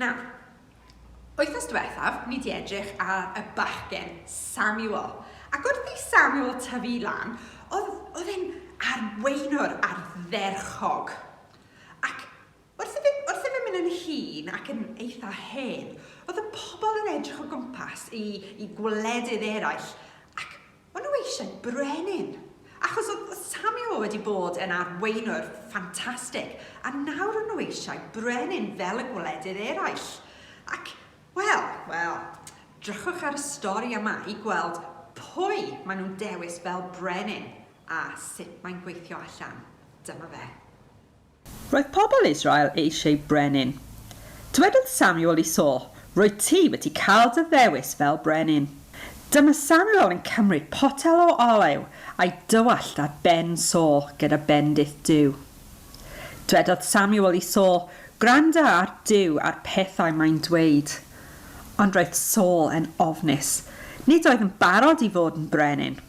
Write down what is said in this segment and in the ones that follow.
Nawr, wythnos diwethaf, ni di edrych ar y bachgen, Samuel. Ac wrth i Samuel tyfu lan, oedd, oedd e'n arweinwr ardderchog. Ac wrth i fe, wrth i fe mynd yn hun ac yn eitha hen, oedd y pobl yn edrych o gwmpas i, i gwledydd eraill ac O'n nhw eisiau brenin, achos oedd Samuel wedi bod yn arweinwr ffantastig, a nawr o'n nhw eisiau brenin fel y gwledydd eraill. Ac, wel, wel, drychwch ar y stori yma i gweld pwy maen nhw'n dewis fel brenin a sut mae'n gweithio allan. Dyma fe. Roedd pobl Israel eisiau brenin. Dywedodd Samuel i Saul, Rwyt ti wedi cael dy ddewis fel brenin. Dyma Samuel yn cymryd potel o olew a'i dywallt ar ben Saul gyda bendith Duw. Dwedodd Samuel i Saul, Gwranda ar Duw a'r pethau mae'n dweud. Ond roedd Saul yn ofnus. Nid oedd yn barod i fod yn brenin.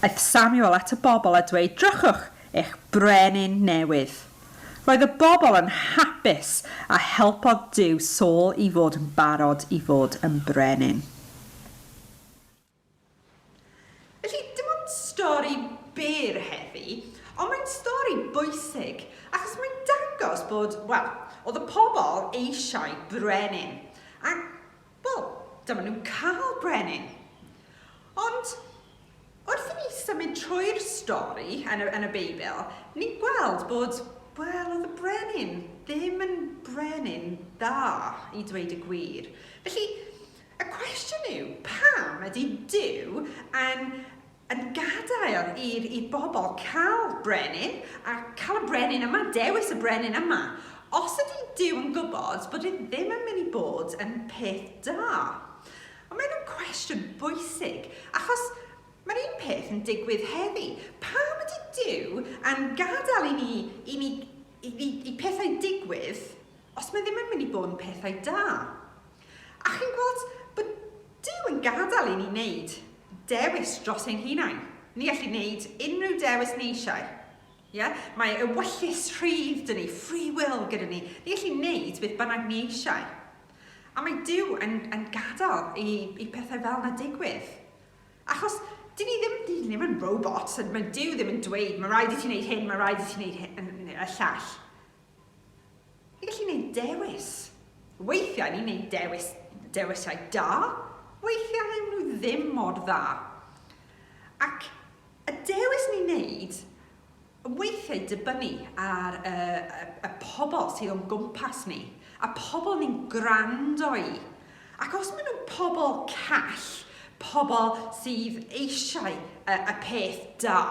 Aeth Samuel at y bobl a dweud, Drychwch, eich brenin newydd. Roedd y bobl yn hapus a helpodd Duw Saul i fod yn barod i fod yn brenin. Felly, dim ond stori byr heddi, ond mae'n stori bwysig, achos mae'n dangos bod, wel, oedd y pobl eisiau brenin. A Wel, dyma nhw'n cael brenin. Ond wrth i ni symud trwy'r stori yn y, yn y Beibl, ni'n gweld bod, wel, oedd y brenin ddim yn brenin dda, i dweud y gwir. Felly, y cwestiwn yw, pam ydy Dyw yn yn gadael i'r i bobl cael brenin a cael y brenin yma, dewis y brenin yma, os ydy Duw yn gwybod bod e ddim yn mynd i bod yn peth da. Ond mae hynna'n cwestiwn bwysig, achos mae'r un peth yn digwydd heddi. Pam ydy Duw yn gadael i ni, i ni, i, i, i pethau digwydd os mae ddim yn mynd i bod yn pethau da? A chi'n gweld bod Duw yn gadael i ni wneud dewis dros ein hunain. Ni allwn wneud unrhyw dewis ni eisiau. Ie? Mae ewyllys rhydd dyn ni, free will gyda ni. Ni allwn wneud beth bynnag ni eisiau. A mae Duw yn, yn gadael i, i pethau fel yna digwydd. Achos dyn ni ddim, dyn ni ddim yn robots, mae Duw ddim yn dweud, mae rhaid i ti wneud hyn, mae rhaid i ti wneud hyn, y llall. Ni'n gallu neud dewis. Weithiau ni'n neud dewis, dewisiau da, weithiau yw nhw ddim mor dda. Ac y dewis ni'n neud yn weithiau dibynnu ar y, y, y pobl sydd o'n gwmpas ni, a pobl ni'n gwrando i. Ac os maen nhw'n pobl call, pobl sydd eisiau y, y peth da,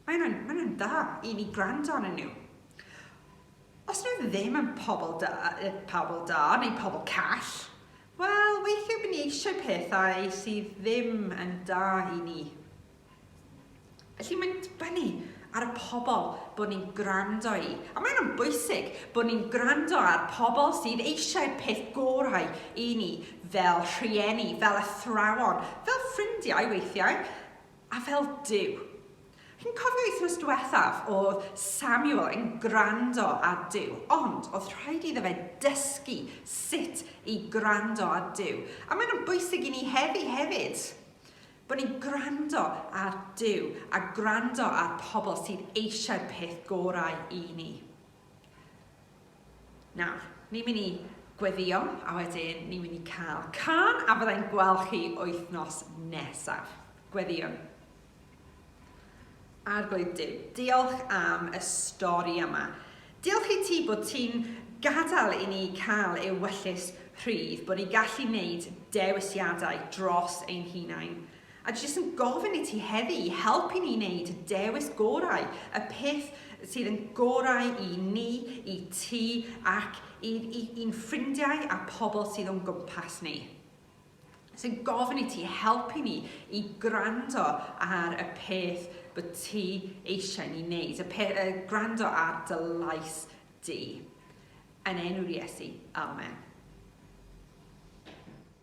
Mae nhw'n, mae nhw'n dda i ni gwrando arnyn nhw. Os nhw ddim yn pobl da, eh, pobl da neu pobl call, wel, weithiau bydd ni eisiau pethau sydd ddim yn da i ni. Felly mae'n dibynnu ar y pobl bod ni'n gwrando i. A mae'n yn bwysig bod ni'n gwrando ar pobl sydd eisiau peth gorau i ni fel rhieni, fel athrawon, fel ffrindiau weithiau, A fel Duw! Chi'n cofio wythnos diwethaf oedd Samuel yn gwrando ar Duw, ond oedd rhaid iddo fe dysgu sut i gwrando ar Duw. A maen nhw'n bwysig i ni heddi hefyd, bod ni'n gwrando ar Duw a gwrando ar pobl sydd eisiau'r peth gorau i ni. Nawr, ni'n mynd i gweddïo a wedyn ni'n mynd i cael cân a fyddai'n gweld chi wythnos nesaf. Gweddïwn. Arglwydd Duw, diolch am y stori yma. Diolch i ti bod ti'n gadael i ni cael ewyllys rhydd, bod ni'n gallu wneud dewisiadau dros ein hunain. A dwi jyst yn gofyn i ti heddi i helpu ni wneud y dewis gorau, y peth sydd yn gorau i ni, i ti ac i'n i, i ffrindiau a pobl sydd o'n gwmpas ni. Sy'n gofyn i ti helpu ni i gwrando ar y peth bod ti eisiau ni wneud, y peth, uh, gwrando ar dy lais di. Yn enw'r Iesu, amen.